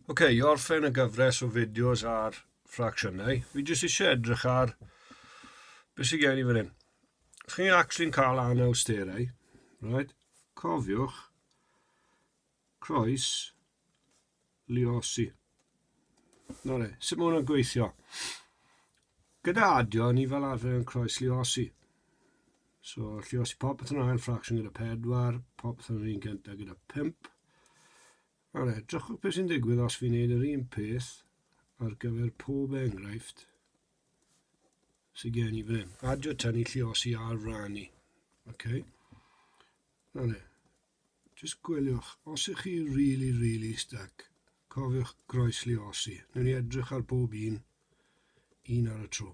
Oce, okay, i orffen y gyfres o fideos ar ffracsiynau, fi jyst eisiau edrych ar beth sy'n gen i fan hyn. Os chi'n actually'n cael anawsterau, right, cofiwch croes liosi. Na le, sut mae hwnna'n gweithio? Gyda adio, ni fel arfer yn croes liosi. So, lle os i popeth yn ail fraction gyda 4, popeth yn yr un gyntaf gyda 5. Wel, edrychwch beth sy'n digwydd os fi'n neud yr un peth ar gyfer pob enghraifft sy'n gen i fan hyn. Adio tynnu lle os i ar rannu. Okay. Nawr le, jyst gwyliwch, os ych chi really, really stuck, cofiwch groes lle os i. Nw'n i edrych ar bob un, un ar y tro.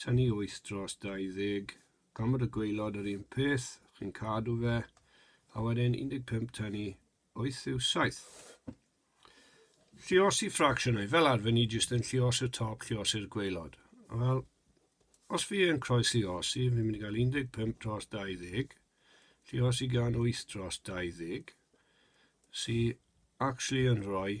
tynnu wyth dros 20 gomod o gwaelod yr un peth, chi'n cadw fe, a wedyn 15 tynnu wyth yw saith. Lliosi ffracsiynau, fel arfer ni jyst yn lliosi'r top, lliosi'r gwaelod. Wel, os fi yn croesliosi, fi'n mynd i gael 15 dros 20, lliosi gan 8 dros 20, sy'n actually yn rhoi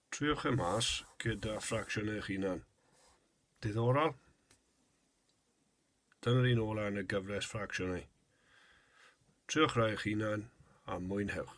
Triwch e mas gyda ffracsiwn eich hunan. Diddorol? Dyna'r un ola yn y gyfres ffracsiynau. Triwch rai eich hunan a mwynhewch.